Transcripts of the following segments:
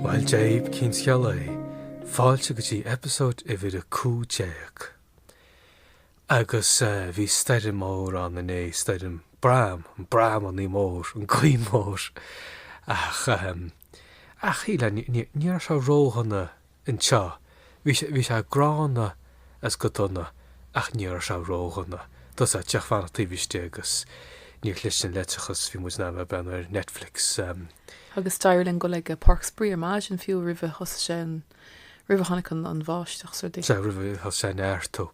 Bhuel Dave, cén scéal é? Fáilte go dtí eipeasóid uimhir 15. Agus bhí stoirm mór ann inné, stoirm Bram, an Bram an-mhór, an gaoth mór. Ach, ach shíl, ní raibh sé ródhona anseo. Bhí sé, bhí sé gránna agus go dona ach ní raibh sé ródhona. Tá 's agat, ag fanacht taobh istigh agus níor chlis an leictreachas, bhí muid in ainm a bheith ar Netflix. Agus d'éirigh linn dul ag páirc spraoi ar maidin, fiú roimh a thosaigh sé, roimh a tháinig an bháisteach. Sea, roimh a thosaigh sé ag neartú.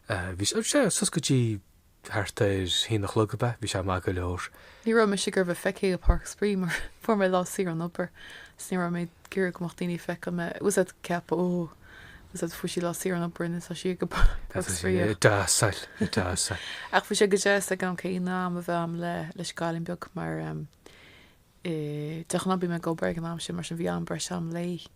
Bhí sé, bhí sé, suas go dtí. Thart ar haon a chlog ab ea? Bhí sé maith go leor. Ní raibh mise ag iarraidh a bheith feicthe i Páirc Spraoi mar fuair mé lá saor ón obair agus ní raibh mé ag iarraidh go mbeadh daoine ag feiceáil mé. Tá 's agat, ag ceapadh, oh, tá 's agat, fuair sí lá saor ón obair and tá sí ag Páirc Spraoi ag dossáil, dossáil. Ach bhí sé go deas ag an am céanna am a bheith agam leis an gcailín beag mar. de ghnáth bím ag obair ag an am sin, mar sin bhí am breise agam léi.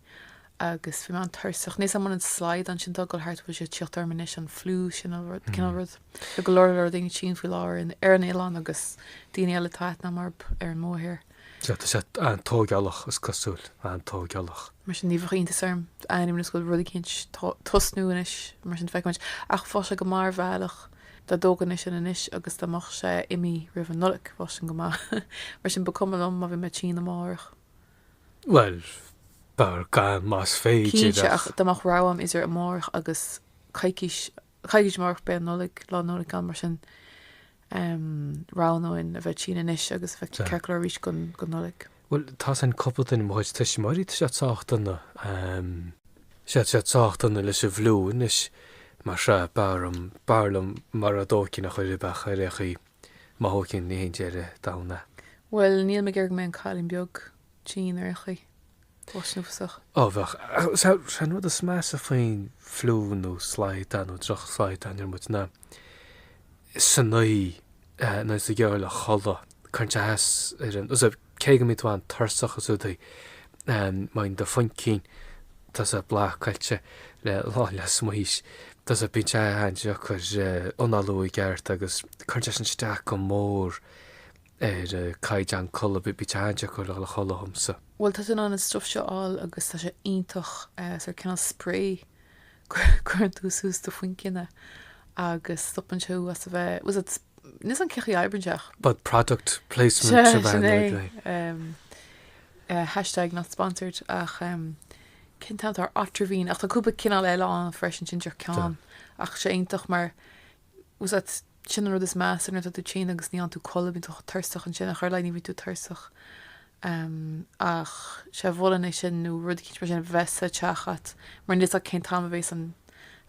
Agus bhí mé an-tuirseach. Níl 's agam an an slaghdán sin atá ag dul thart, an bhfuil sé ag tíocht orm anois, an fliú sin nó rud, cineál rud. Tá go leor leor daoine tinn faoi láthair in, ar an oileán agus daoine eile atá aithne agam orthu ar an mórthír. Sea, tá sé an-tógálach, is cosúil, an-tógálach. Mar sin, ní bheadh iontas orm d'ainneoin is go bhfuil rud eicínt ag tosnú anois, mar sin, feicfimid. Ach bheadh sé go maith ar bhealach. Dá dtógfainnse sin anois agus dá mbeadh sé imithe roimh an Nollaig, bheadh sin go maith. Mar sin, ba cuma liom má bhí mé tinn amárach. Bhuel, b'fhearr gan, más féidir, Cinnte, ach ach. dá mbeadh rogha agam idir amárach agus coicís, coicís amárach, beidh an Nollaig, Lá Nollag ann. Mar sin, roghnóinn a bheith tinn anois agus a bheith ceart go leor arís don Nollaig. Bhuel, tá 's agam cúpla duine, mo chuid tuismitheoirí, tá siad sách dona, em. tá siad sách dona leis an bhfliú anois, mar sea, b'fhearr liom, b'fhearr liom mara dtógfainn ar chor ar bith é ar aon chaoi. Má thógaim, ní haon deireadh domhain é. Bhuel, níl mé ag iarraidh go mbeidh an cailín beag tinn ar aon chaoi. Bheadh sé uafásach. Ó, bheadh, ach sea, an rud is measa faoin fliú nó slaghdán nó drochshlaghdán ar bith ná san oíche, tá 's agat, ag dul a chodladh. caint a sheas ar an, tá 's agat, cé go mbíonn tú an-tuirseach is rudaí, má bhíonn do chaincín, tá 's agat, blocáilte le lán le smaois, tá 's agat, bíonn sé an-deacair análú i gceart agus cuireann sé sin isteach go mór ar caighdeán codladh, bíonn sé an-deacair le codladh dhomsa. Bhuel, tá tú in ann an stuif seo a fháil agus tá sé iontach, sórt cineál sprae, cuireann tú suas do chaincín é agus stopann sé thú as a bheith, tá 's agat, Nis an cic í aibrinseach. But product placement a bheith ag lé. Eh, hashtag not sponsored ach em cén t-am atá Otrivine ach tá cúpla cineál eile ann freisin sin seo ceann ach tá sé iontach mar was that sin an rud is measa nuair atá tú tinn agus níl tú in ann codladh bíonn tú tuirseach ansin i gcaitheamh an lae bíonn tú tuirseach em ach sea mholfainn é sin nó rud eicínt mar sin bheith sa teach agat mar níl a fhios agat cén t-am a bhéas an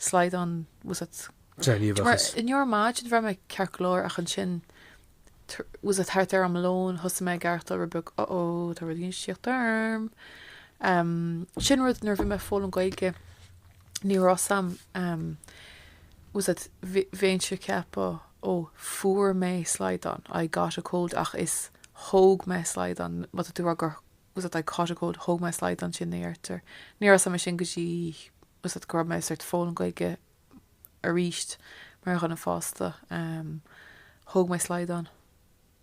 slaghdán ort Gníomhachas. Inné ar maidin bhraith mé ceart go leor ach ansin was it thart ar am lóin, thosaigh mé ag aireachtáil rud beag oh oh tá rud éigin ag tíocht orm. Sin rud nuair bhí mé ag foghlaim Gaeilge ní raibh a fhios agam was it bhínnse ag ceapadh ó fuair mé slaghdán I got a cold ach is thóg mé slaghdán má tá tú ag rá gur was it I caught a cold thóg mé slaghdán sin a deirtear. Ní raibh a fhios agam é sin go dtí was it go raibh mé ag sort foghlaim Gaeilge arís mar dhuine fásta. Thóg mé slaghdán.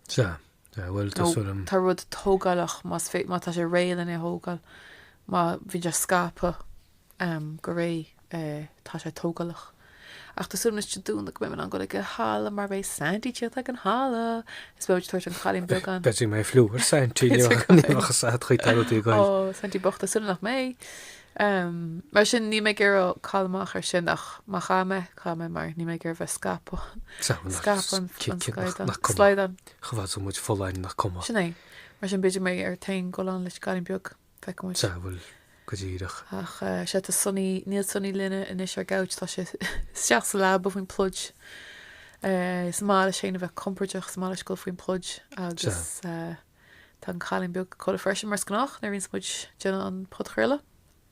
Sea. Sea, bhuel, tá sort of... Tá rud tógálach, más féidir, má tá sé réidh le hé a thógáil. Má bhíonn sé scaipthe go réidh, tá sé tógálach. Ach tá súil agamsa ar ndóigh go mbeidh mé in ann dul ag an halla mar beidh Santy ag tíocht ag an halla. Is beidh muid ag tabhairt an cailín beag ann. Beidh mé ag fliú ar Santy. Ní bheadh a fhios agat. Ó, Santy bocht, tá súil agam nach mbeidh. Mar sin, níl mé ag iarraidh cailleadh amach ar sin, ach má chaithfidh mé, caithfidh mé, mar níl mé ag iarraidh bheith ag scaipeadh, scaipeadh an slaghdán, slaghdán. Chomh fada is muid folláin nach cuma. Sin é. Mar sin, b'fhéidir mé a bheith in ann goil ann leis an gcailín beag, feicfidh muid. Sea, bhuel, go díreach. Ach sea, tá Sonaí, níl Sonaí linne anois ar an gcouch, tá sé isteach sa leaba faoin pluid. Is maith leis féin a bheith compordach, is maith leis dul faoin pluid agus. Sea. Tá an Cailín Beag ina codladh freisin, mar is gnách, nuair a bhíonns muid ag déanamh an podchraoladh.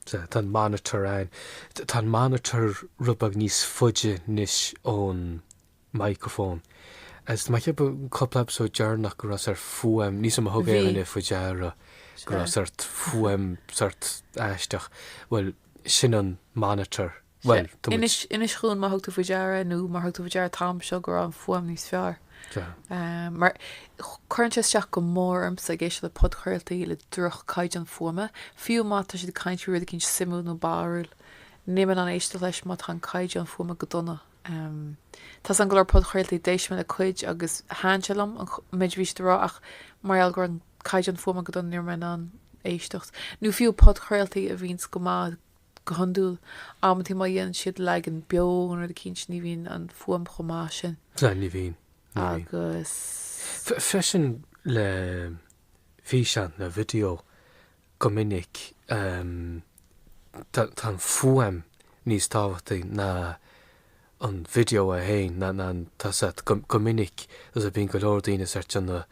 Sea, tá an Monitor ann. Tá an Monitor rud beag níos faide anois ón microphone. Is mar cheap mé an cúpla episode deireanach go raibh sort fuaim, níl a fhios agam ar thug Bhí. éinne faoi deara go Sea. raibh sort fuaim sort aisteach. Bhuel, sin an Monitor. Bhuel, tá muid. Inis, Inis dhúinn má thug tú faoi deara nó murar thug tú faoi deara an t-am seo go raibh an fuaim níos fearr. Tá. Mar cuireann sé isteach go mór ormsa ag éisteacht le podchraoltaí le droch caighdeán fuaime, fiú má tá siad ag caint faoi rud eicínt suimiúil nó barrúil. Níl mé in ann éisteacht leis má tá an caighdeán fuaime go dona. Tá an-go leor podchraoltaí, d'éist mé le cuid agus thaithin sé liom, an méid a bhí siad a rá, ach mar gheall go raibh an caighdeán fuaime go dona ní raibh mé in ann éisteacht. Nó fiú podchraoltaí a bhíonns go maith, Go hiondúil, amantaí má dhéanann siad leagan beo nó rud eicínt, ní bhíonn an fuaim chomh maith sin. Sea, ní bhíonn, ní bhíonn. Agus. Freisin le físeán nó video go minic tá an fuaim níos tábhachtaí ná an video é féin nach nach tá's a'd go go minic is a bhíonn go leor daoine sórt ag déanamh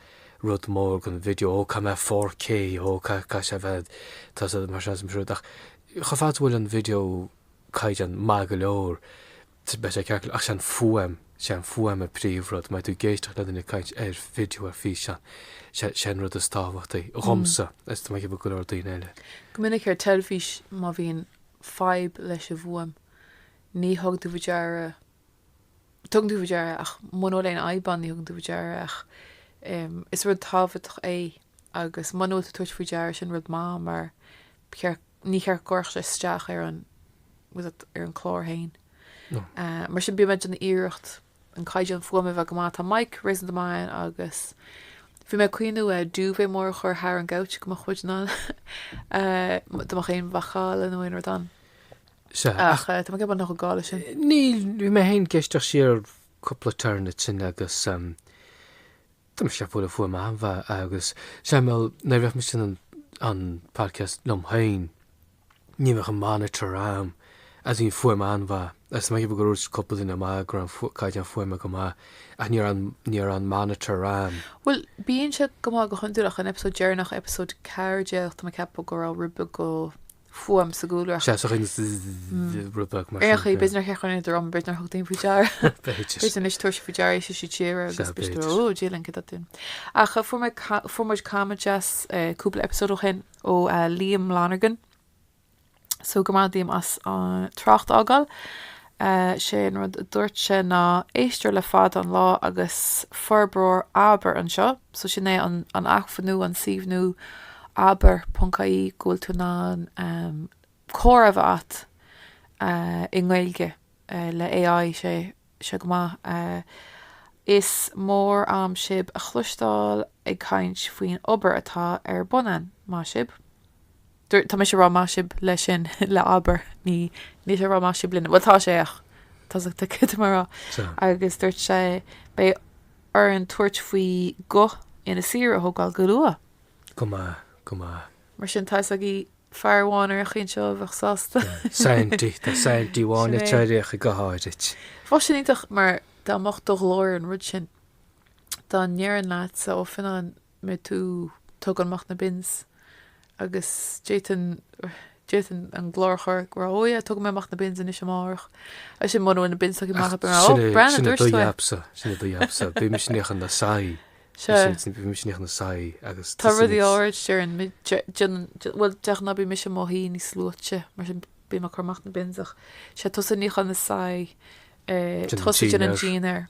rud mór gon video ó caithfidh mé 4K ó caithfidh caithfidh sé a bheith tá's a'd mar sin siúd ach chomh fada is a bhfuil an video caighdeán maith go leor t beidh sé ceart go leor ach sé an fuaim sé an fuaim a príomh rud má tá tú ag éisteacht le duine ag caint ar video ar físeán sé sé an rud is tábhachtaí dhomsa is tá mé ag ceapadh go leor daoine eile. Go minic ar teilifís má bhíonn fadhb leis an bhfuaim ní thugann tú faoi deara, tugann tú faoi deara ach muna bhfuil aon fhadhb ann ní thugann tú faoi deara ach is rud tábhachtach é agus muna bhfuil tú ag tabhairt faoi deara sin rud maith mar ba cheart, níor cheart go gcuirfeadh sé isteach ar an, ar an clár féin. Mar sin bíonn mé ag déanamh iarracht an caighdeán fuaime a bheith go maith, tá mic réasúnta maith a'm agus bhí mé ag cuimhniú eh duvet mór a chur thar an gcouch go mbeadh muid in ann eh dá mbeadh aon mhacalla nó aon rud ann. Sea, ach Ach eh tá mé ag ceapadh nach gá leis sin. níl, bhí mé féin ag éisteacht siar ar cúpla turn ansin agus ehm, tá mise ag ceapadh go bhfuil an fuaim an-mhaith agus seinmeáil, nuair a bheadh mise an an podcast liom féin, ní bheadh an monitor a'm agus bhí an fuaim an-mhaith agus mé ag ceapadh go raibh cúpla duine ag maíomh go raibh an caighdeán fuaime go maith ach ní raibh ní raibh an monitor a'm. Bhuel, bíonn sé go maith go hiondúil ach an episode deireanach, episode 14, tá mé ag ceapadh go raibh rud beag go. fuaim sa gcúlra. Seas a chuin rud beag mar. Ach b'fhéidir nár sheachain idir am b'fhéidir nár thug daoine faoi deara. B'fhéidir anois tabharfaidh sibh faoi deara éis si tíre agus bid ó dílan go dún. Ach fuair muid comment as cúpla episód ó shin ó Liam Lonergan. So go raibh maith a'd Liam as an trácht a fhágáil. 'Sé an rud a dúirt sé ná, 'Éisteoir le fada an lá agus forbróir Abair anseo, so sin é an an acmhainn nua, an suíomh nua abair ponc ie go bhfuil tú in ann comhrá a bheith agat i nGaeilge le AI sé seo go maith. Is mór a'm sibh a chloisteáil ag caint faoin obair atá ar bun ann, maith sibh. Dúirt, Tá mise ag rá maith sibh leis sin, le abair, ní, níl sé ag rá maith sibh linn. Bhuel, tá sé, ach tá's a'd céard atá mé a rá. Agus dúirt sé, Beidh orainn tabhairt faoi guth Inis Oírr a thógáil go luath. Go maith, go maith. Mar sin, tá's agaí fear amháin ar an chaoi seo a bheadh sásta. Sandy, tá Sandy amháin ag teirioch i guth áirit. Bhuel, sin iontach, mar dá mbeadh do ghlór ar an rud sin, dá ndéarfainn leatsa, ó, Fionnán, mbeidh tú tugann amach na bins agus d'fhéadfadh d'fhéadfadh an glór a chur go raibh oh yeah tugfaidh mé amach na bins anois amárach agus sin mura bhfuil na bins tugtha amach ach oh Breandán dúirt tú é. sin é do jobsa sin é do jobsa bíonn mise ag níochán na soithí sin bíonn mise ag níochán na soithí agus tá rudaí áirid bhuel de ghnáth bíonn mise i mo shuí níos luaithe mar sin bím ag cur amach na bins ach sé tusa ag níochán na soithí tusa ag déanamh an dinnéar.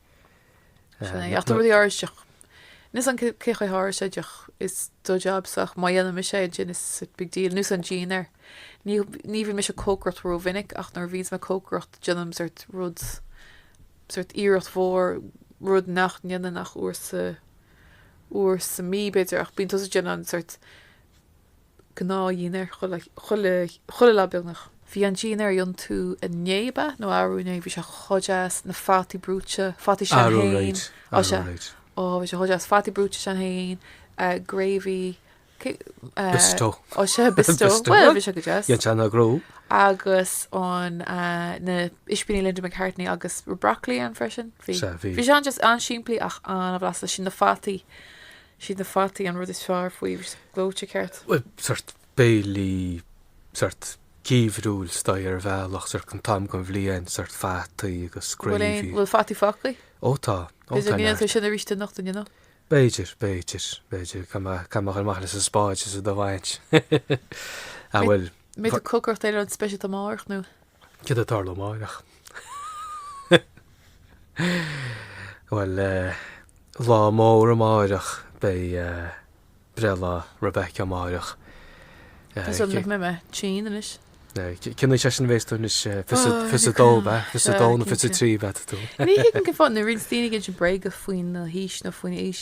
Sin é. Ach tá rudaí aríst ach níl a fhios agam cén chaoi aríst ach is do jobs ach má dhéanann mise é ansin is sort big deal. Nós an dinnéar. Ní ní bhíonn mise ag cócaireacht rómhinic ach nuair a bhíonns mé ag cócaireacht déanaim sort rud sort iarracht mhór rud nach ndéanaim ach uair sa uair sa mí b'fhéidir ach bíonn tusa ag déanamh sort gnáthdhínnéar chuile lá beagnach. Bhí an dínnéar iontach inné, ab ea? Nó arú inné? Bhí sé chomh deas, na fataí brúite, fataí Sinn Féin. Arú aréir, á sea, arú aréir. Ó, bhí sé chomh deas. Fataí brúite Sinn Féin, eh, gravy, cé, eh, Bisto. Á sea, bisto. Bisto. Bhuel, bhí sé go deas. Dhein sé an agrú. Agus an, eh, na ispíní Linda McCartney agus bhí broccoli ann freisin. Bhí. Sea, bhí. Bhí sé just an-simplí ach an-bhlasta. Sin na fataí. siad na fataí an rud is fearr faoi ghleoite ceart. Bhuel, sort béilí, sort geimhriúil stoi ar bhealach, sort an t-am seo den bhliain, sort fataí agus gravy. An bhfuil fataí fágtha? Ó, tá, ó, tá neart. B'fhéidir go ndéanfar sin arís anocht, you know. B'fhéidir, b'fhéidir, b'fhéidir, caithfidh mé, caithfidh mé a ghoil amach leis an spáid is iad a bhaint. Bhuel. Beidh tú ag cócaireacht béile speisialta amárach, nó. Céard atá ag tarlú amárach? Bhuel, lá mór amárach, beidh breithlá Rebecca amárach. Tá mé ag cuimhniú anois. Cén aois é sin a bhéas tú anois? Fiche a dó, ab ea? Fiche a dó nó fiche a trí a bheas tú? Ní thuigim cén fáth, nuair a bhíonn daoine ag inseacht bréaga faoin aois nó faoin aois,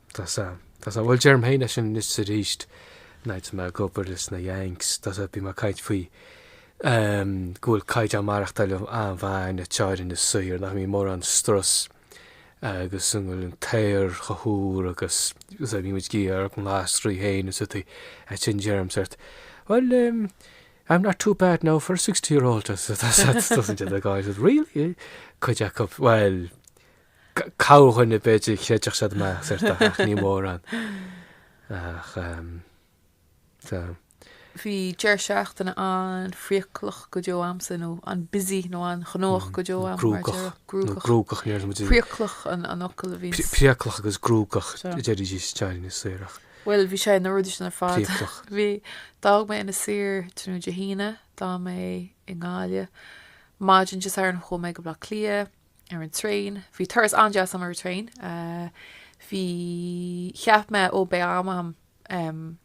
Tá a fhios agat. Tá a fhios agat. Bhuel, deirim féin é sin anois 's arís, nuair a bhí mé ag obair leis na Yanks, tá a fhios agat, bhí mé ag caint faoi ehm, go bhfuil caighdeán maireachtáil an-mhaith againn in Inis Oírr, nach mbíonn mórán strus agus go bhfuil an t-aer chomh húr agus, is é, bíonn muid ag ithe ár nglasraí féin is rudaí, ansin deirim sórt, bhuel ehm, I'm not too bad now for a sixty-year-old, tá a fhios agat, tá a fhios agat, tosaíonn siad ag gáire, really? Cuid acu, bhuel, Corrdhuine, b'fhéidir, a chreidfeadh siad mé, sort of, ach ní mórán. Ach tá. Bhí deireadh seachtaine an-phriaclach go deo agamsa, nó an-busy, nó an-ghnóthach go deo agam, mar a déarfá. Cruógach. Nó cruógach, níor dhom é. Priaclach an focal a bhí. Priaclach agus cruógach, a deir siad in Inis Oírr. Bhuel, bhí sé na rudaí sin ar fad. Priaclach. Bhí. D'fhág mé Inis Oírr tráthnóna Dé hAoine, d'fhan mé i nGaillimh. Maidin Dé Sathairn chuaigh mé go Baile Átha Cliath. ar an traein. Bhí turas an-deas agam ar an traein. Bhí, cheap mé, ó beidh am agam, em,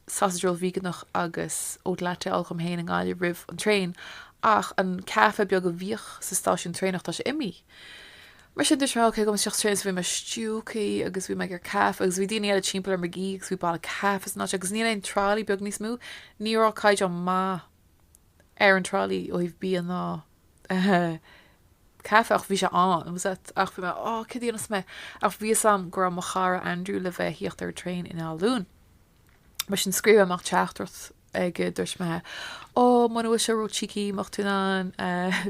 sausage roll víoganach agus oat latte a ól dhom féin i nGaillimh roimh an traein ach an caife beag a bhíodh sa stáisiún traenach, tá sé imithe. Mar sin dúirt mé, ok, gabhfaidh mé isteach sa traein so bhí mé stiúgtha agus bhí mé ag iarraidh caife agus bhí daoine eile timpeall orm ag ithe agus bhí boladh caife san áit agus níl aon trolley beag níos mó. Ní raibh caighdeán maith ar an trolley ó thaobh bia ná. caife ach bhí sé ann, was it? Ach bhí mé, oh, cad a dhéanfas mé? Ach bhí a fhios a'm go raibh mo chara Andrew le bheith ag tíocht ar an traein in Áth Luain. Mar sin scríobh mé amach teachtaireacht aige, dúirt mé, oh, muna bhfuil sé ró cheeky, mbeadh tú in ann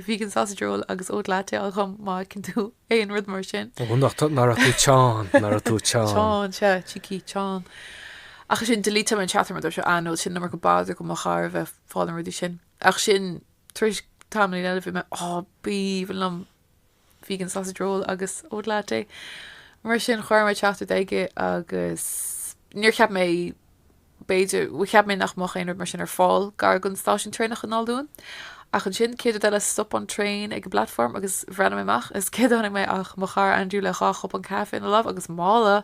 vegan sausage roll agus oat latte a fháil dhom má fheiceann tú aon rud mar sin. Oh, nach tú, nach raibh tú teann, nach raibh tú teann. Teann, sea, cheeky, teann. Ach ansin delete mé an teachtaireacht mar dúirt mé, ah, no, sin na ró-mhór de bhodar do mo chara bheith fáil na rudaí sin. Ach sin, tar éis tamaillín eile bhí mé, á, b'aoibhinn liom vegan sausage roll agus oat latte. Mar sin, chuir mé teachtaireacht aige agus níor cheap mé, b'fhéidir, bhuel cheap mé nach mbeadh aon rud mar sin ar fáil gar don stáisiún traenach in Áth Luain. Ach ansin, an chéad rud eile, stop an traein ag an bplatform agus bhreathnaigh mé amach is céard a chonaic mé ach mo chara Andrew le dhá chupán caife ina lámh agus mála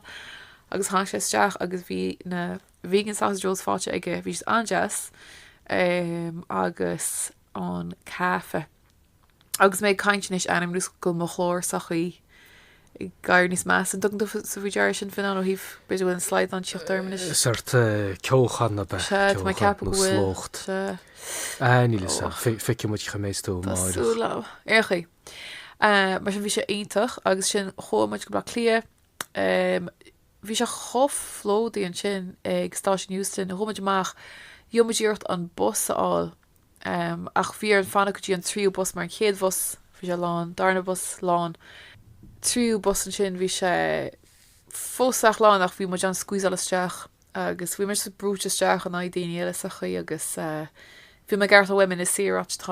agus tháinig sé isteach agus bhí na vegan sausage rolls faighte aige, bhí siad an-deas, agus an caife. Agus mé ag caint anois, airím go bhfuil mo ghlór sórt ag éirí níos measa, an dtugann tú faoi deara sin, Fionnán, ó thaobh, b'fhéidir go bhfuil an slaghdán ag tíocht orm anois? Sórt ceochán ab ea, ceochán nó slócht. Á, níl fhios a'm, feicfidh muid cén chaoi a mbeidh tú amárach. Tá súil a'm. Ar aon chaoi, mar sin bhí sé iontach agus sin chuaigh muid go Baile Átha Cliath, Bhí sé chomh plódaithe ansin ag Stáisiún Heuston, chuaigh muid amach, rinne muid iarracht an bus a fháil, ach bhí orainn fanacht go dtí an tríú bus mar an chéad bhus, bhí sé lán, darna bhus, lán, tríú bus ansin, bhí sé fós sách lán ach bhí muid in ann squeezeáil isteach agus bhí muid brúite isteach in aghaidh daoine eile sa chaoi agus bhí mé ag aireachtáil uaim an saol áit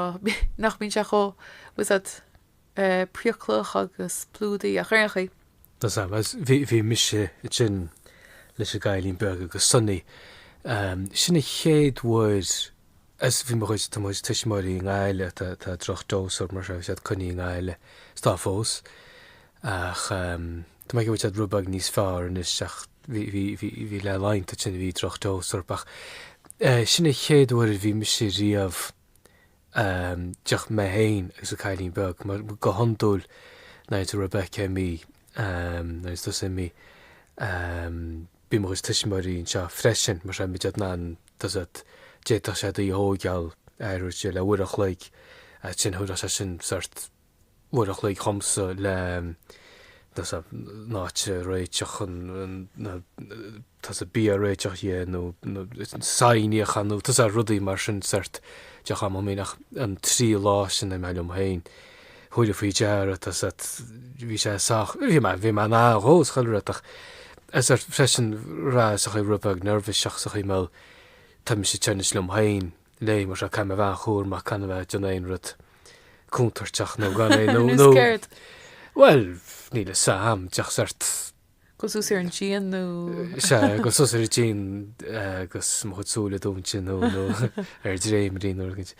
nach mbíonn sé chomh, you know? é praeitseach agus plódaithe ach ar aon chaoi. Does am as bhí bhí mise ansin leis an gcailín beag agus Sonny ehm sin an chéad uair as bhí mo chuid tá mo chuid tuismitheoirí i nGaillimh tá tá droch dose orthub, tá siad coinnithe i nGaillimh is tá fós ach ehm tá mé ag ceapadh go bhfuil siad rud beag níos fearr anois ach bhí bhí bhí bhí le laghanta ansin bhí droch dose orthub ach eh sin an chéad uair a bhí mise riamh díreach mé féin agus an Cailín Beag, mar go hiondúil nuair atá Rebecca imithe nó tusa imithe bíonn mo chuid tuismitheoirí anseo freisin, mar tá m'athair ann, tá a fhios a'd, d'fhéadfadh sé D a thógáil, ar ndóigh, le uair an chloig, agus ansin thabharfadh sé sin sórt Uair an chloig dhomsa leis an áit a réiteach, tá 'fhios a'd, bia a réiteach dhe, nó soithí a ghlanadh, tá 'fhios a'd, rudaí mar sin, sort de chamomile, ach an trí lá sin a bheith liom féin, thug mé faoi deara, tá 'fhios a'd, bhí sé sách, bhí mé, bhí mé in ann dó, is chuile rud, ach is freisin rá is a chuir rud beag neirbhíseach sa chaoi, bhuel, tá mise anois liom féin. léi, mar seo, Caithfidh mé a bheith an-chúramach gan a bheith ag déanamh aon rud contúirteach nó gan é nó, nó, bhuel, níl 'fhios a'am, díreach sort. Goil suas ar an díon nó? Sea, goil suas ar an díon agus mo chuid súile dúinte nó, nó, ar dréimirí nó rud.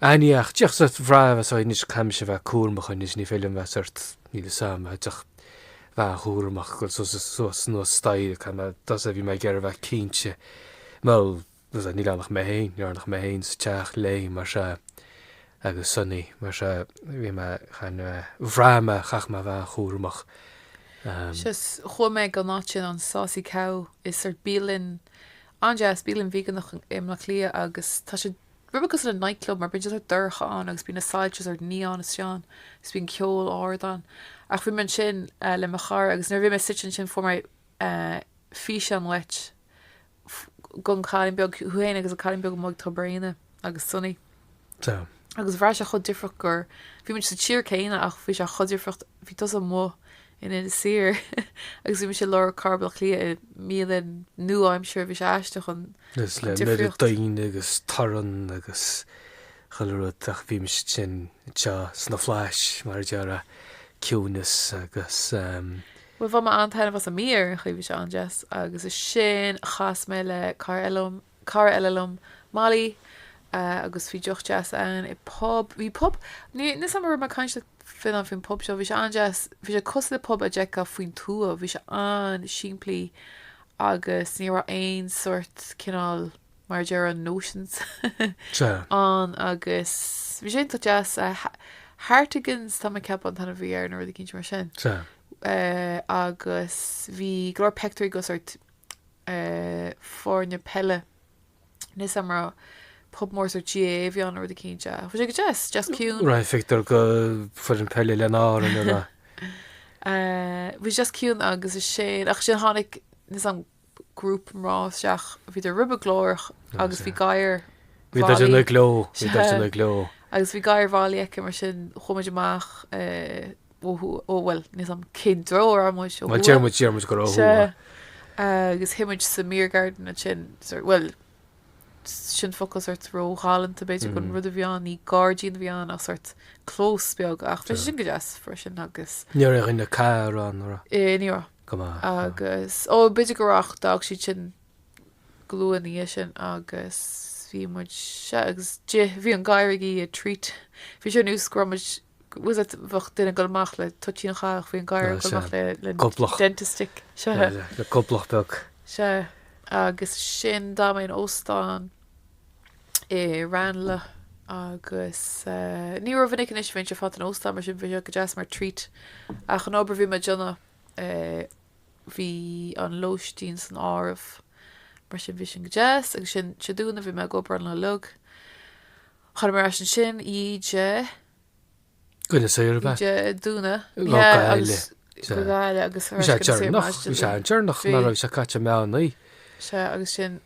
Aní ach, díreach sort bhraith mé so anois, caithfidh mise a bheith cúramach anois, ní féidir liom a bheith sort, níl 'fhios a'am, a bheith díreach, a bheith an-chúramach, goil suas, suas anuas staighre, caithfidh mé, tá 'fhios a'd, bhí mé ag iarraidh a bheith cinnte, bhuel, sea, níl ann ach mé féin, níl ann ach mé féin sa teach léi, mar sea, agus Sonny, mar sea, bhí mé, chan, bhraith mé, chaith mé a bheith an-chúramach, sea, chuaigh mé go an áit sin, an Saucy Cow, is sort bialann an-deas, bialann veganach i mBleá Cliath agus tá sé rud beag cosúil le night club mar bíonn sé sort dorcha ann agus bíonn na soilse sort neon istigh ann is bíonn ceol ard ann ach bhí mé ansin le mo chara agus nuair a bhí mé suite ansin fuair mé físeán uait gon cailín beag, thú féin agus an cailín beag amuigh ag Tobar Éinne agus Sonny. Sea. Agus bhraith sé chomh difríocht gur, bhí muid sa tír céanna ach bhí sé chomh difríocht, bhí tusa amuigh in Inis Oírr agus bhí mé i lár chathair Bhaile Átha Cliath i mbialann nua-aimseartha, bhí sé aisteach an Agus le mire difríocht. daoine agus torann agus chuile rud ach bhí muide anseo sna Flaithis mar a déarfá, ciúnas agus. Bhuel, bhain mé an-taitneamh as an mbia ar aon chaoi, bhí sé an-deas, agus ansin chas mé le cara eile liom, cara eile liom, Molly, agus bhí deoch deas againn i bpub, bhí pub, ní, níl 's agam an raibh mé ag caint faoin, faoin pub seo, bhí sé an-deas, bhí sé cosúil le pub a d'fheicfeá faoin tuath, bhí sé an-simplí agus ní raibh aon sort, cineál, mar a déarfá notions ann agus bhí sé iontach deas. Hartigan's, tá mé ag ceapadh an t-ainm a bhí air nó rud eicínt mar sin. Agus bhí go leor peictiúirí go sort foirne peile níl 'fhios a'am ar pub mór sort GAA a bhí ann nó rud eicínt. Bhí sé go deas, deas ciúin. Raibh peictiúr go foireann peile lenár inniu lá. Bhí sé deas ciúin agus ansin, ach ansin tháinig, grúpa mná isteach, bhíodar rud beag glórach agus bhí gadhar bhí bhailigh bhí duit ina gcló. agus bhí gadhar Mholly aici mar sin chuaigh muid amach ó thuaidh, ó bhuel níl 'fhios a'am cén treo a raibh muid ó thuaidh, sea, agus shuigh muid sa mbeer garden ansin, bhuel sin focal sórt ró-ghalánta b'fhéidir don rud a bhí ann, ní gairdín a bhí ann ach sórt clós beag ach bhí sé sin go deas freisin agus. Ní raibh aon chathaoir ann, an raibh? Ní raibh. Go maith. Agus, ó b'fhéidir go raibh ach d'fhág siad sin go luath ina dhiaidh sin agus bhí muid, sea, agus d'ith, bhí an gadhar ag ithe treat, bhí sé ar nós go raibh muid, nós a bheadh duine ag dul amach le toitín ach bhí an gadhar ag dul amach le Goblach. dentist stick seo Nó le le goblach beag. seo agus ansin d'fhan mé in óstán i Ranelagh agus eh, ní rómhinic anois a bhímse ag fanacht in óstán mar sin bhí sé go deas mar treat ach an obair a bhí mé ag déanamh eh, bhí an lóistín san áireamh mar sin bhí sin go deas agus ansin Dé Domhnaigh bhí mé ag obair ann le lug. Chuaigh mé ar ais ansin Dé. Go hInis Oírr, ab ea? Dé Domhnaigh. Go Gaillimh. Go Gaillimh agus. Bhí sé deireanach. Bhí sé deireanach nach raibh sé caite meán oíche. Sea, agus ansin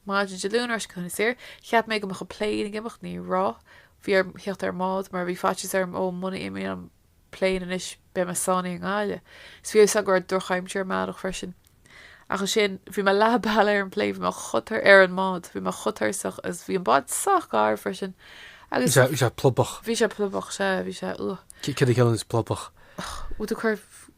maidin Dé Luain ar ais go hInis Oírr. Cheap mé go mbeadh an plane ag imeacht, ní raibh. Bhí orm theacht ar an mbád mar bhí faitíos orm ó muna n-imíonn an plane anois. Beidh mé sáinnithe i nGaillimh. Is bhí fhios agam go raibh drochaimsir amárach freisin. Ach ansin, bhí mé leath bealaigh ar an bplane, bhí mé chomh, ar an mbád, bhí mé chomh tuirseach agus bhí an bád sách garbh freisin Bhí agus, sé, bhí sé plobach. bhí sé plobach, sea, bhí sé, ugh. Céard a chiallaíonns plubach? Bhfuil tú ag cur.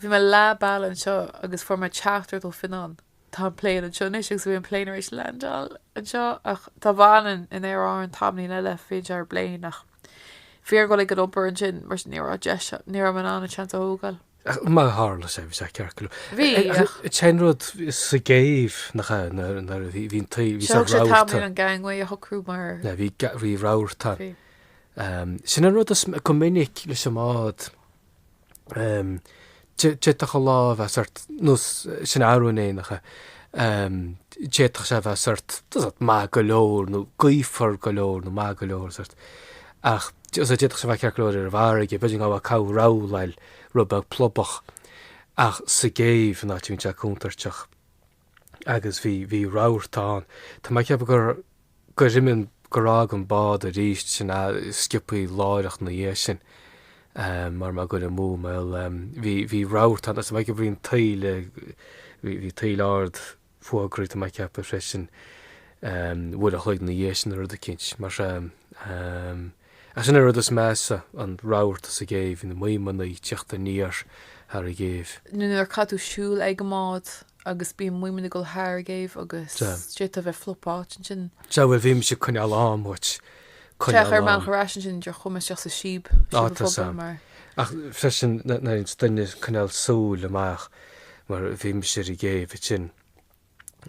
Bhí mé leath bealaigh anseo agus fuair mé teachtaireacht ó Fionnán, tá an plane anseo anois agus bhí an plane tar éis landáil anseo ach dá bhfanainn in Aer Árann tamaillín eile bheinnse ar an bplane ach bhí orm a dhul ag an obair ansin mar sin ní raibh deis, ní raibh mé in ann an seans a thógáil. Ach mar a tharla sé bhí sé ceart go leor. Bhí Ach ach. an t-aon rud sa gcéibh nach ea nuair nuair a bhí bhí an taoile bhí Sé sé thóg sé rabharta. tamaillín an gangway a shocrú mar. Yeah bhí bhí rabharta ann. Bhí. Sin an rud is go minic leis an mbád, d'fhéadfadh an lá a bheith sórt, nós arú inné nach ea, d'fhéadfadh sé a bheith sórt, maith go leor, nó gaofar go leor, nó maith go leor, sórt. Ach d'fhéadfadh sé a bheith ceart go leor ar an bhfarraige, b'fhéidir an gabha cabh rabhláil, rud beag plobach, ach sa gcéibh, an áit a bhíonn sé contúirteach. agus bhí, bhí rabharta ann. Tá mé ag ceapadh gur, gur imigh, gur fhág an bád aríst, sin an-sciobtha láithreach 'na dhiaidh sin, mara bhfuil mé ag goil amú, bhuel. Bhí, bhí rabharta ann, agus tá mé ag ceapadh bhí an taoile, bhí, bhí taoile ard fógraithe, tá mé ag ceapadh freisin, uair a' chloig 'na dhiaidh sin nó rud eicínt mar sin. Ach sin an rud is measa, an rabharta sa gcéibh, na maidhmeanna ag teacht aniar thar an gcéibh. Nuair a chaitheann tú siúl ag an mbád agus bíonn maidhmeanna ag dul thar an gcéibh agus d'fhéadfá a bheith fliuch báite ansin. Sea, bhuel, bímse ag coinneáil am uait, coinneáil am. Féach ar an mbealach ar ais ansin, idir Chumaisc agus sa síob, síob an phobail, mar. Ach freisin, nár fhéad duine coinneáil súil amach, mar bímse ar an gcéibh ansin.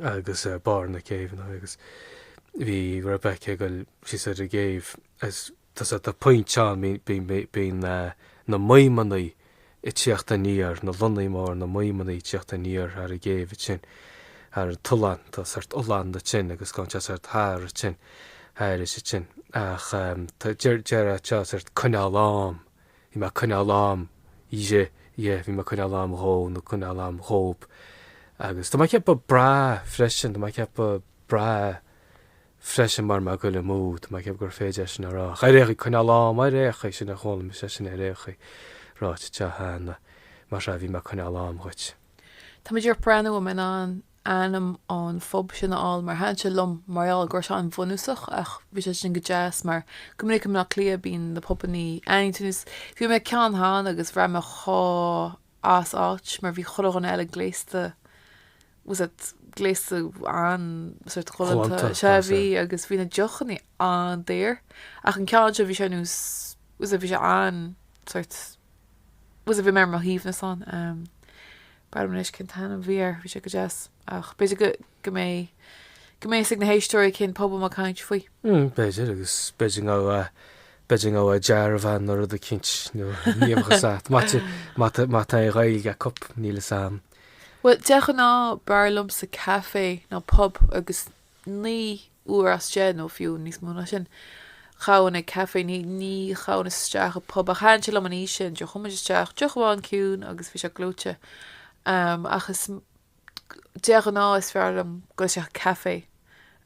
agus ar barr na céibheanna agus bhí Rebecca ag goil síos ar an gcéibh is tá's a'd tá pointe ann bíonn na maidhmeanna ag teacht aniar, na lonnaí mór, na maidhmeanna ag teacht aniar thar an gcéibh a tinn, thar an t-oileán, tá sort oileán a tinn agus gan teach sort thar a tinn, thairis a tinn ach tá deir deir seo sort coinneáil am. Bhí mé ag coinneáil am, ye, ye, bhí mé ag coinneáil am dhó nó ag coinneáil am dhóib, agus tá mé ag ceapadh breá freisin, tá mé ag ceapadh breá freisin mara bhfuil mé ag goil amú, tá mé ag ceapadh gur féidir é sin a rá. An aireofá coinneáil am? Aireofá. Sin a chuala mise, sin aireofá ráite, Téa Sheáin, mar seo a bhí mé ag coinneáil am dhuit. Tá mé ag breathnú an mbeinn in ann ainm an phub sin a fháil mar thaithin sé liom mar gheall go raibh sé an-bhunúsach ach bhí sé sin go deas mar go minic i mBleá Cliath bíonn na pubannaí aintiúin is bhí mé ag ceann cheana agus bhraith mé chomh as áit mar bhí chuile dhuine eile gléasta bhfuil fhios a'd gléasta an sort galánta sé bhí agus bhí na deochannaí an-daor ach an ceann seo bhí sé nós bhfuil fhios a'd bhí sé an sort bhfuil fhios a'd bhí mé ar mo shuaimhneas ann, B'fhearr liom anois cén t-ainm bhí air, bhí sé go deas. Ach b'fhéidir go mbeidh, go mbeidh fhios ag na héisteoirí cén pub a bhfuil mé ag caint faoi. Mm, b'fhéidir, agus b'fhéidir go mbeadh, b'fhéidir go mbeadh dearbhán nó rud eicínt, nó niamh agus at, mate, mate, mate an Ghaeilge at cup, níl fhios a'am. Bhuel, de ghnáth b'fhearr liomsa café ná pub agus Naoi uair as deich, nó fiú níos mó ná sin, ghabhfainn ag caife. Ní ghabhfainn isteach i bpub, ach thaitin sé liom an áit sin a ndeachaigh muid isteach, deoch amháin ciúin, agus bhí sé gleoite. Ach is de ghnáth is fearr liom dul isteach i caife.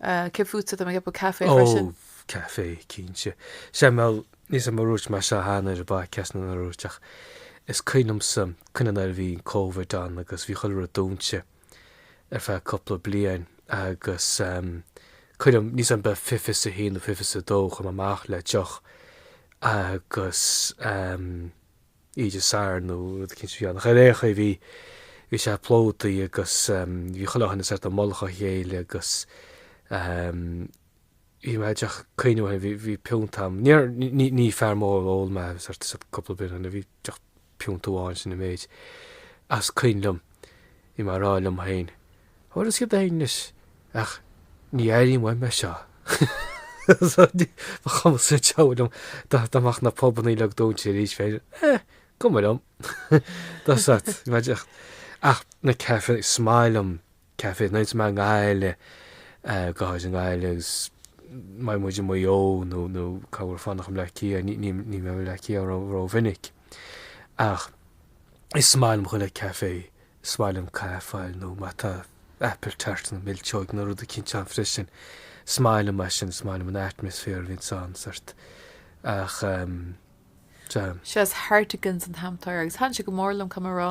Cé fútsa? Tá mé ag ceapadh caife freisin. Ó, caife, cinnte. Sea, bhuel, níl fhios a'm ar dhúirt mé seo cheana ar an bpodcast nó nár dhúirt, ach is cuimhin liomsa cuimhin nuair a bhí Covid ann agus bhí chuile rud dúnta. ar feadh cúpla bliain agus go raibh mé níl fhios a'm b'fhéidir fiche is a haon nó fiche is a dó chuaigh mé amach le deoch agus oíche Dé Sathairn nó rud eicínt bhí an ghair éochaidh bhí bhí sé plódaithe agus bhí chuile dhuine sort i mullach a chéile agus bhí mé ag teach caoineadh ó shin, bhí piúnt a'm, níor, ní, ní fear mór óil mé sort of cúpla beer anyway, bhí deoch piúnt amháin, sin an méid, ach is cuimhin liom, bhí mé a' rá liom féin, bhuel tá sé go deas anois, ach ní airím uaim é seo, so ní, ba chuma sa diabhal liom, dá, dá mbeadh na pubannaí uilig dúnta arís féin, eh, cuma liom, dá, sort, bhí mé ag teacht, ach na cafes, is maith liom Café Nights mar an gcath eile, go háirid i nGaillimh agus má bhíonn muid i Maigh Eo nó nó cá bhfuil fanacht An Leath Cia, ní ní ní bheadh An Leath Cia ann ró mhinic. Ach is maith liom chuile café, is maith liom caife a fháil nó má tá apple tart nó milseog nó rud eicínt ann freisin, is maith liom mar sin, is maith liom an atmosphere a bhíonns ann, sort. Ach. Sea, is Hartigan's an t-ainm atá air agus thaitin sé go mór liom caithfidh mé a rá.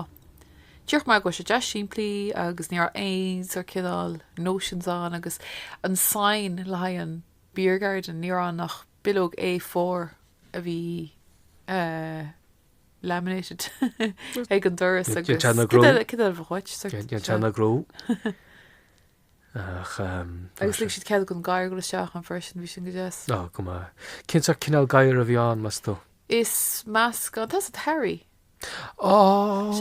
Díreach mar go bhfuil sé deas simplí agus ní raibh aon sórt cineál notions ann agus an sign le haghaidh an beer garden ní raibh ann ach bileog A4 a bhí laminated ag an doras agus cad eile a bheadh uait? Déanta ina gcró. Agus lig siad cead don ghadhar goil isteach ann freisin, bhí sin go deas. Á, go maith. Cén sort cineál gadhair a bhí ann, meas tú? Is meascán, tá a fhios agat Harry. Á,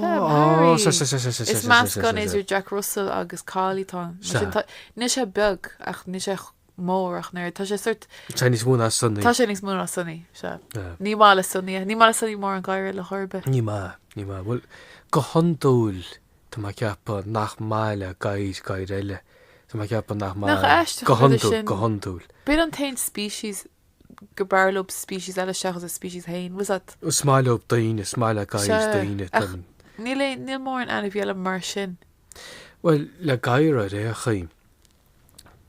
Harry. Is meascán idir Jack Russell agus Collie atá ann. Mar sin, níl sé beag ach níl sé mór ach an oiread, tá sé sort. Tá níos mó ná Sonny. Tá sé níos mó ná Sonny, sea. Ní maith le Sonny é. Ní maith le Sonny mórán gadhair eile ar chor ar bith. Ní maith, ní maith. Bhuel, go hiondúil Tá mé ag ceapadh nach maith le gadhair gadhair eile. Tá mé ag ceapadh nach maith. Nach aisteach an rud é sin? Go hiondúil. B'in an t-aon species gur b'fhearr leo species eile seachas a species féin. Bhfuil a fhios agat. Is maith leo daoine. Is maith le gadhair daoine. Sea. Ach níl aon, níl mórán ainmhí eile mar sin. Bhuel, le gadhair ar aon chaoi,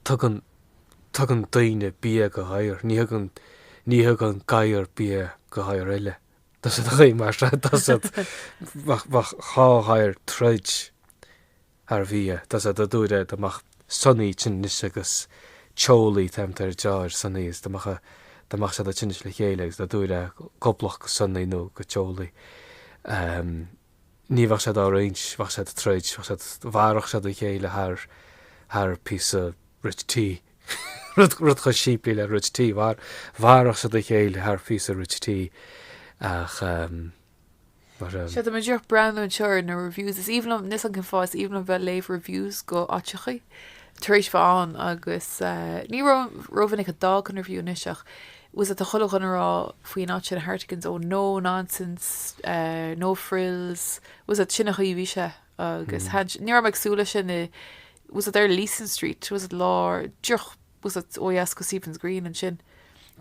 tugann, tugann daoine bia go ghadhair. Ní thugann, ní thugann gadhair bia go gadhair eile. Does it ghaoth mar seo, does it? Bheadh dhá dhair troid thar bhia, does it? a dúirt é, dá mbeadh Sonny tinnis agus teolaí teannta ar deoir Sonny is dá mbeadh, dá mbeadh siad ag tinnis le chéile agus dá dúirt é go gcomhlach go Sonny nó go teolaí. ní bheadh siad á roinnt, bheadh siad ag troid, bheadh siad, mharódh siad a chéile thar, thar píosa Rich Tea, rud, rud chomh simplí le Rich Tea, mhar, mharódh siad a chéile thar phíosa Rich Tea ach ehm, mar a. Sea, tá mé díreach breathnú anseo ar na reviews, is aoibhinn liom, níl a fhios agam cén fáth, is aoibhinn liom bheith léamh reviews go áiteachaí, tar éis bheith ann agus eh, ní ró, ró mhinic a d'fhágfainn review anois ach, Bhfuil a fhios agat tá chuile dhuine ag rá faoin áit sin, Hartigan's, oh no nonsense, no frills, bhfuil a fhios agat, sin an chaoi a bhí sé agus Hanch-, ní raibh mé ag súil leis sin i, bhfuil a fhios agat ar Leeson Street, bhfuil a fhios agat lár, díreach, bhfuil a fhios agat, ó dheas go Stephen's Green ansin.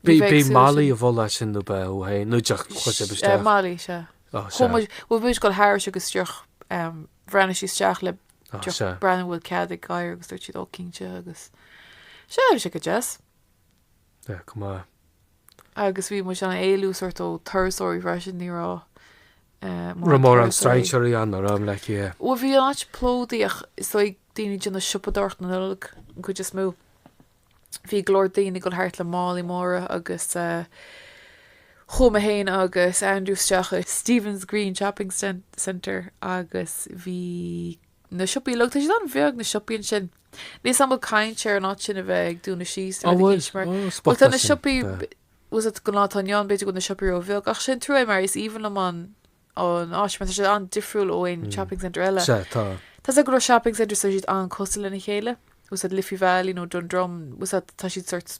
Bhí mé ag súil leis sin. Bhí Molly i bhfolach ansin nó ba é ó shoin, nó díreach chuaigh sibh isteach. Molly, sea. Ó sea. Chuaigh muid, bhí muid ag dul thairis agus díreach bhreathnaigh sí isteach le díreach breathnú bhfuil cead ag gadhair agus dúirt siad, oh cinnte agus, sea bhí sé go deas. Bheadh go maith. Agus bhí muid in ann éalú sórt ó turasóirí freisin, ní raibh eh, mórán Raibh mórán turasóirí. strainséirí ann a raibh le cé. Bhuel, bhí an áit plódaithe ach is dóigh daoine ag déanamh siopadóireacht na Nollag an chuid is mó. Bhí go leor daoine ag dul thart le málaí móra agus eh, chuaigh mé féin agus Andrew isteach i Stephen's Green Shopping Cen- Centre agus bhí na siopaí uilig. Tá siad an-bheag, na siopaí ansin. Níl fhios agam an bhfuil caint ar an áit sin a bheith ag dúnadh síos nó Á rud bhfuil? éicint mar. Ó, Bhuel, spota tá na sin, siopaí, tá. tá fhios agat gnáth, tá an Yonn, b'fhéidir go bhfuil na siopaí ró-bheag, ach sin trua é mar is aoibhinn liom an an áit, mar tá siad an-difriúil ó aon shopping centre eile. Sea, tá. Tá fhios agat go leor shopping centres, tá siad an-cosúil lena chéile. tá fhios agat Liffey Valley nó Dundrum, tá fhios agat tá siad sórt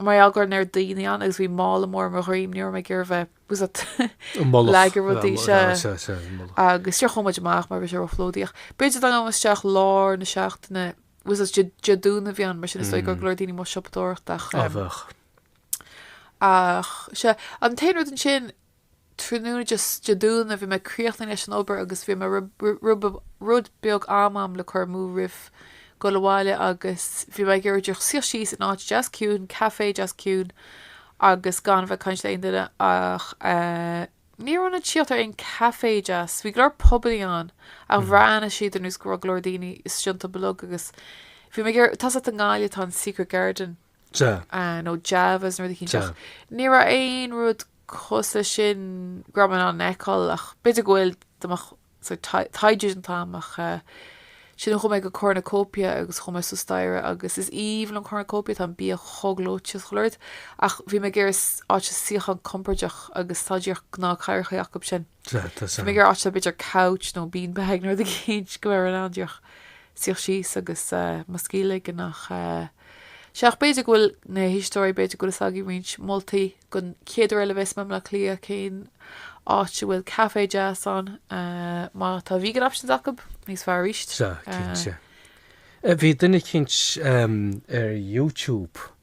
Mar gheall go raibh an oiread daoine ann agus bhí mála mór ar mo dhroim, ní raibh mé ag iarraidh bheith, tá fhios agat An mullach. ag leagan rudaí, sea, Sea, sea, sea, an mullach. agus díreach chuaigh muid amach mar a bhí sé ró-phlódaithe. B'fhéidir dá ngabhfainn isteach lár na seachtaine, tá fhios agat Dé Dé Domhnaigh a bhí ann, mar sin is dóigh go raibh go leor daoine amuigh ag siopadóireacht ach, Á bheadh. ach, sea, an t-aon rud ansin, Tráthnóna Dé Domhnaigh bhí mé críochnaithe leis an obair agus bhí mar rud beag am agam le cur amú roimh dhul abhaile agus bhí mé ag iarraidh díreach suí síos in áit deas ciúin, café deas ciúin agus gan a bheith ag caint le aon duine ach eh ní raibh mé in ann tíocht ar aon café deas. Bhí go leor probably ann ach bhreathnaigh siad ar nós go raibh go leor daoine istigh iontu uilig agus bhí mé ag iarraidh, tá fhios agat i nGaillimh tá an Secret Garden, nó Javas nó rud eicínt ach ní raibh aon rud cosúil leis sin go raibh mé in ann a fheiceáil ach b'fhéidir go bhfuil taighde déanta agam ach ansin chuaigh mé go Cornucopia agus chuaigh mé suas staighre agus is aoibhinn liom Cornucopia tá an bia chomh gleoite is chuile rud ach bhí mé ag iarraidh áit suíochán compordach agus tá díreach gnáthchathaoireacha acu ansin. Bhí mé ag iarraidh b'fhéidir couch nó bean bag nó rud éigin go mbeidh tú in ann díreach suí síos agus mo scíth a ligean ach sea ach b'fhéidir go bhfuil na héisteoirí b'fhéidir go bhfuil fhios agaibh roinnt moltaí don chéad uair eile a bheas mé i mBaile Átha Cliath cén áit a bhfuil café deas ann má tá vegan options acu níos fearr arís. Sea, cinnte. Bhí duine eicínt ar YouTube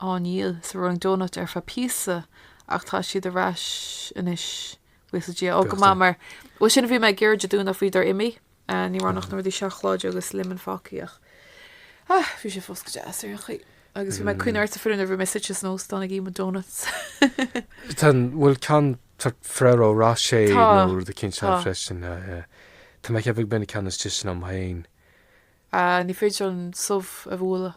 á ndíol sa Rolling Donut ar feadh píosa ach tá siad ar ais anois buíochas le Dia ó go maith mar bhuel sin a bhí mé ag iarraidh Dé Domhnaigh ach faoi dár imí ní raibh ann ach na rudaí seacláide agus lemon fágtha ach ah bhí sé fós go deas ar aon chaoi agus bhí mé ag cuimhneamh ort sa fir nuair a bhí mé suite san óstán ag ithe mo donuts Tá bhfuil ceann tá Ferrero Rocher tá nó rud eicínt freisin Tá mé ag ceapadh gurb in an ceann is deise liom féin. ah ní féidir an subh a bhualadh.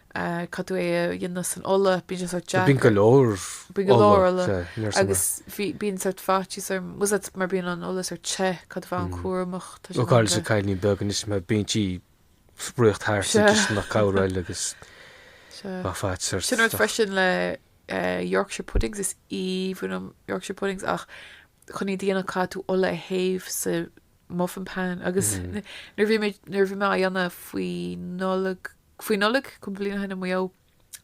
caithfidh tú é a dhéanamh san ola, bíonn sé sort deacair. Bíonn go leor ola, níor sama. Agus bíonn sort faitíos orm, tá a fhios agat mar bíonn an ola sort te, caithfidh tú a bheith an-chúramach, tá sé longa. Ó go háirid leis an gcailín beag anois mar bíonn sí ag spraoi thart sa gcisteanach cabhrail agus á fad sort. Sin rud freisin le Yorkshire puddings, is aoibhinn liom Yorkshire puddings ach chun iad a dhéanamh caithfidh tú ola a théamh sa muffin pan agus nuair a bhí mé nuair a bhí mé á dhéanamh faoi Nollaig faoi Nollaig cúpla bliain ó shin i Maigh Eo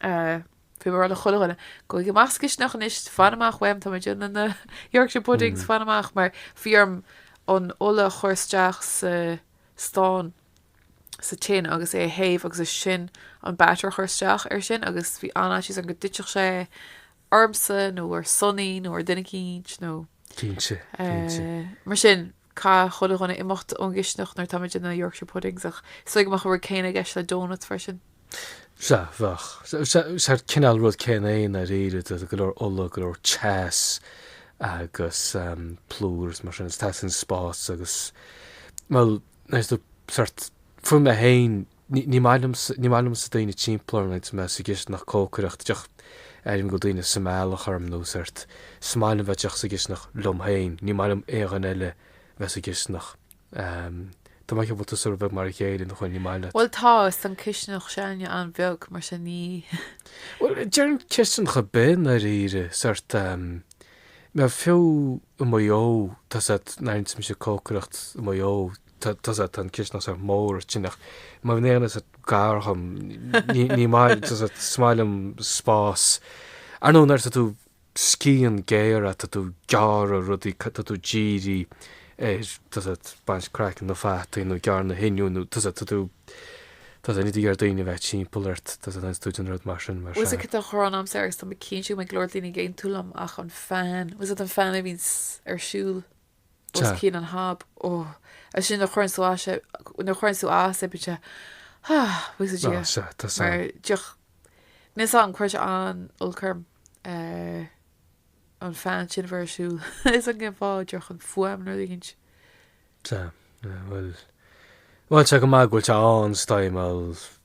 bhí mé ag rá le chuile dhuine gabhaigí amach as an gcisteanach anois fan amach uaim tá mé ag déanamh na Yorkshire puddings fan amach mar bhí orm an ola a chur isteach sa stán sa tin agus é a théamh agus ansin an batter a chur isteach ar sin agus bhí an-fhaitíos orm go dtitfeadh sé ormsa nó ar Sonaí nó ar dhuine eicínt nó mar sin, caithfidh chuile dhuine imeacht ón gcisteanach nuair atá mé ag déanamh Yorkshire Puddings ach is dóigh go mbeadh an rud céanna i gceist le doughnuts freisin. Sea, bheadh. Is é an cineál rud céanna é i ndáiríre, d'you know go leor ola, go leor teas agus plúr is mar sin, is teastaíonn spás agus, bhuel, sórt, fiú mé féin Ní maith liomsa, ní maith liomsa daoine timpeall orm agus mé sa gcisteanach, cócaireacht, d'you know, airím go bhfuil daoine sa mbealach orm nó sórt, is maith liom a bheith d'you know sa gcisteanach liom féin, ní maith liom aon duine eile a bheith sa gcisteanach. Tá mé ag ceapadh go bhfuil tú sórt bheag mar a chéile, nach bhfuil, ní maith leat. Bhuel, tá an chisteanach s'againne an-bheag, mar sin ní. Bhuel, déarfainn cisteanach ar bith i ndáiríre, sórt, mar fiú i Maigh Eo, tá a fhios agat, nuair a bhíonns mise ag cócaireacht i Maigh Eo, tusa tá an cisneach sa mór a tinneach. Má bhíonn éan is gar dhom ní maith tusa smail liom spás. Ar nó nuair tá tú scian géara tá tú gearr a rudaí tá tú dírí ar tusa baint craiceann na fataí nó gearr na hinniúin nó tusa tá tú tá tú idir ar daoine a bheith timpeall ort tusa tá tú den rud mar sin mar sea. Usa tá chomh rann agamsa agus tá muid cinnte go mbeidh go leor daoine ag aontú liom ach an fan was it an fan a bhíonns ar siúl? Os cionn an hob. Ó, ansin nuair a chuireann tú as é, nuair a chuireann tú as é, bíonn sé, ha, bhíos ag Ná, sea, tá sa. mar d'you know. Níl sa, cuireann sé an-olc orm, eh, an fan sin a bheith ar siúl. Níl a fhios agam cén fáth d'you know an fuaim nuair a ligeann sé. Sea, bhuel, bhuel, sea, go maith go bhfuil sé an-staidhmeáil.